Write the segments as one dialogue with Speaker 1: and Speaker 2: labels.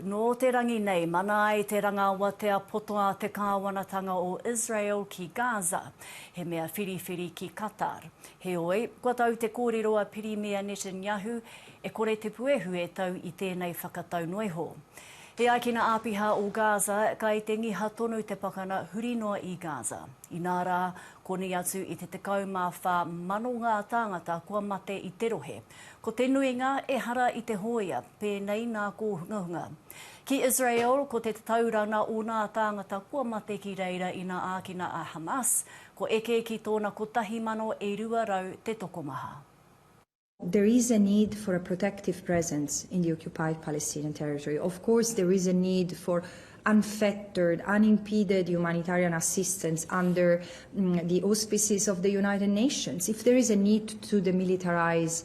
Speaker 1: Nō te rangi nei, mana ai te rangaawatea poto a te Kāwanatanga o Israel ki Gaza, he mea whiriwhiri ki Qatar. Heoi, kua tau te kōrero a Pirimia Netanyahu, e kore te puehu e tau i tēnei whakatau noa iho. He ākina āpiha o Gaza, kai te ngiha tonu te pakana huri noa i Gaza. Inā rā, koni atu i te 14 mano ngā tāngata kua mate i te rohe. Ko te nuinga, ehara i te hōia, pēnei nā kōhungahunga. Ki Israel, ko te tatauranga o nā tāngata kua mate ki reira ina ākina a Hamas, ko eke ki tōna kotahi mano e rua rau te tokomaha.
Speaker 2: There is a need for a protective presence in the occupied Palestinian territory. Of course there is a need for unfettered, unimpeded humanitarian assistance under the auspices of the United Nations. If there is a need to demilitarise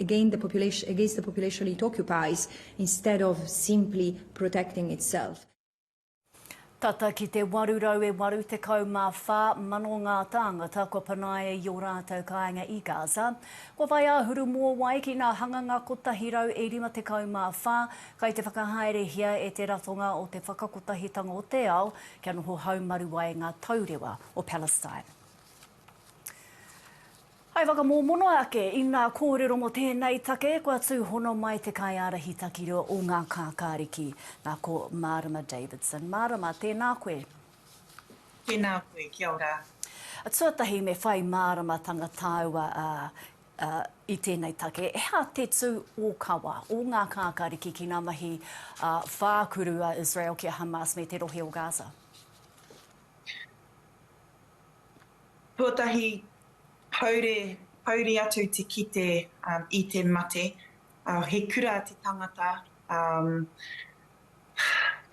Speaker 2: against the population, against the population it occupies instead of simply protecting itself.
Speaker 1: Tata ki te 884 mano ngā tāngata kua panaia i ō rātou kāinga i Gaza. Kua whai āhuru mōwai ki ngā hanganga 154 kai te whakahaerehia e te Ratonga o te Whakakotahitanga o te Ao kia noho haumaru ai ngā taurewa o Palestine. Hai whakamōmono ake i ngā kōrero mō tēnei take, kua tūhono mai te kaiārahi takirua o ngā kākāriki, nā ko Mārama Davidson. Mārama, tēnā koe.
Speaker 3: Tēnā koe, kia ora. Tuatahi
Speaker 1: me whai māramatanga tāua i tēnei take, he aha te tū ōkawa o ngā kākāriki ki ngā mahi whākuru a Israel ki a Hamas me te rohe o Gaza?
Speaker 3: Tuatahi, haure, hauri atu te kite i te mate, he kura te tangata,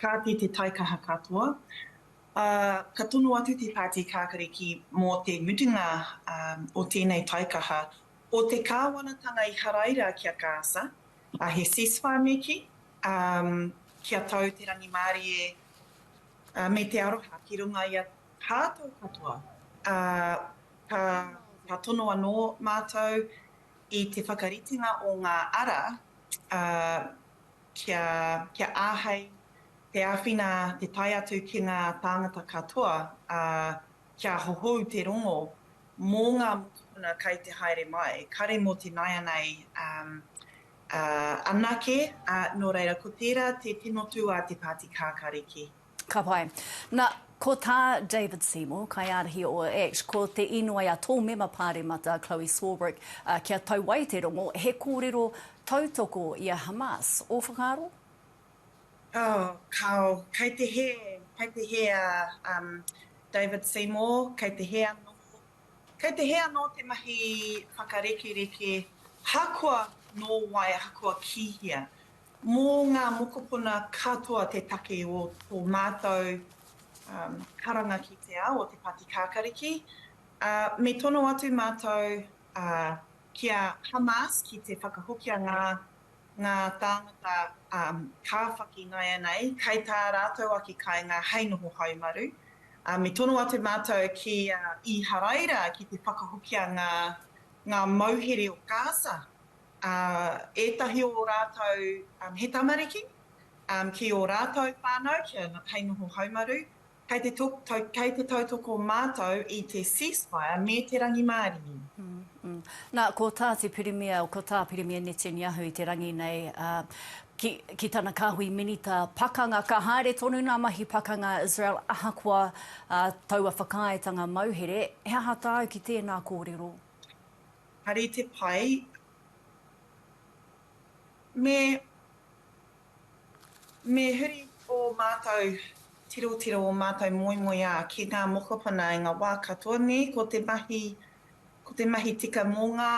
Speaker 3: kāti te taikaha katoa. Ka tono atu te Pāti Kākariki mō te mutunga o tēnei taikaha, o te kāwanatanga i haraira ki a Gaza, he ceasefire neke, kia tau te rangimārie me te aroha ki runga i a Tātou katoa, ā, ka, ka tono anō mātou i te whakaritenga o ngā ara, ā, kia, kia āhei te āwhina te tae atu ki ngā tāngata katoa, ā, kia hohou te rongo mō ngā mokopuna kei te haere mai, kare mō te nāianei, ā, ā, anake, ā, nō reira, ko tērā te tino tū a te Pāti Kākāriki. Ka pai.
Speaker 1: Na, ko tā David Seymour, kaiārahi o ACT, ko te inoi a tō mema pāremata, Chloe Swarbrick, kia tau ai te rongo, he kōrero tautoko i a Hamas. Ō whakaaro? Oh, kao.
Speaker 3: Kei te hē, kei te hē a David Seymour, kei te hē anō, kei te hē anō te mahi whakarekereke, ahakoa nō wai, ahakoa ki hea. Mō ngā mokopuna katoa te take o tō mātou karanga ki te ao o Te Pāti Kākariki, ā, me tono atu mātou ki a Hamas ki te whakahokia ngā ngā tāngata kāwhaki ināianei kai tā rātou ake kāinga hei noho haumaru, ā, me tono atu mātou ki a Īharaira ki te whakahokia ngā ngā mauhere o Gaza. ā, ētahi o ō rātou he tamariki, ā, ki ō rātou whānau kia hei noho haumaru, kei te kei te tautoko mātou i te ceasefire me te rangimārie. Nā,
Speaker 1: ko tā te Pirimia, ko tā Pirimia Netanyahu i te rangi nei, ā, ki, ki tana kāhui minita pakanga, ka haere tonu ngā mahi pakanga a Israel ahakoa, ā, taua whakaaetanga mauhere, he aha tāu ki tēnā kōrero? Hari
Speaker 3: te pai me me huri ō mātou tirotiro, ō mātou moemoeā ki ngā mokopuna i ngā wā katoa nē, ko te mahi, ko te mahi tika mō ngā,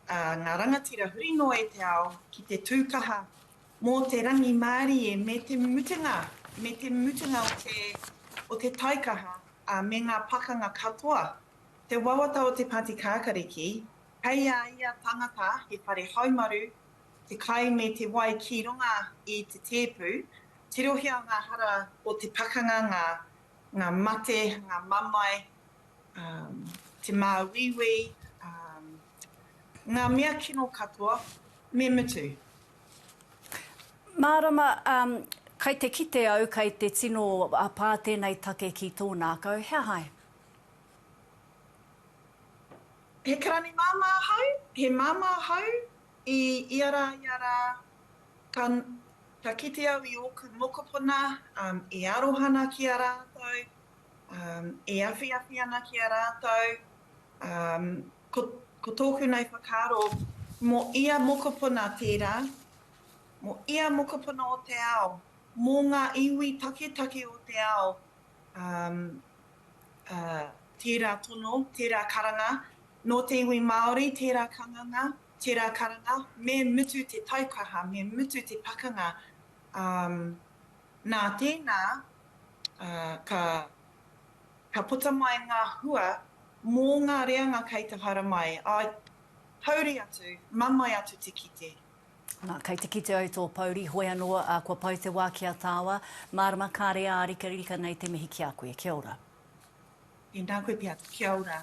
Speaker 3: ā, ngā rangatira huri noa i te ao ki te tū kaha mō te rangimārie me te mutunga, me te mutunga o te, o te taikaha, ā, me ngā pakanga katoa. Te wawata o te Pāti Kākariki, kei a ia tangata he whare haumaru, te kai me te wai ki runga i te tēpu, tirohia ngā hara o te pakanga, ngā, ngā mate, ngā mamae, um, te māuiui, um, ngā mea kino katoa, me mutu.
Speaker 1: Mārama, um, kai te kite au kai te tino pā tēnei take ki tōnākau, he aha ai?
Speaker 3: He karani māmā ahau, he māmā ahau i ia rā, ia rā, ka, ka kite au i ōku mokopuna e aroha ana ki a rātou, e awhiawhi ana ki a rātou, ko, ko tōku nei whakaaro, mō ia mokopuna tērā, mō ia mokopuna o te ao, mō ngā iwi taketake o te ao, ā, tērā tono, tērā karanga, nō te iwi Māori, tērā kanganga, tērā karanga, me mutu te taukaha, me mutu te pakanga, ā, nā tēnā, ā, ka, ka puta mai ngā hua mō ngā reanga kei te haramai, ā, hauri atu, mamae atu te kite, Na, kei te
Speaker 1: kite au tō pouri, hoi anō, a, kua pau te wā ki a tāua, mārama kāre ā rikarika nei
Speaker 3: te
Speaker 1: mihi ki a koe.
Speaker 3: Kia
Speaker 1: ora. Inā
Speaker 3: koe
Speaker 1: pea, kia
Speaker 3: ora.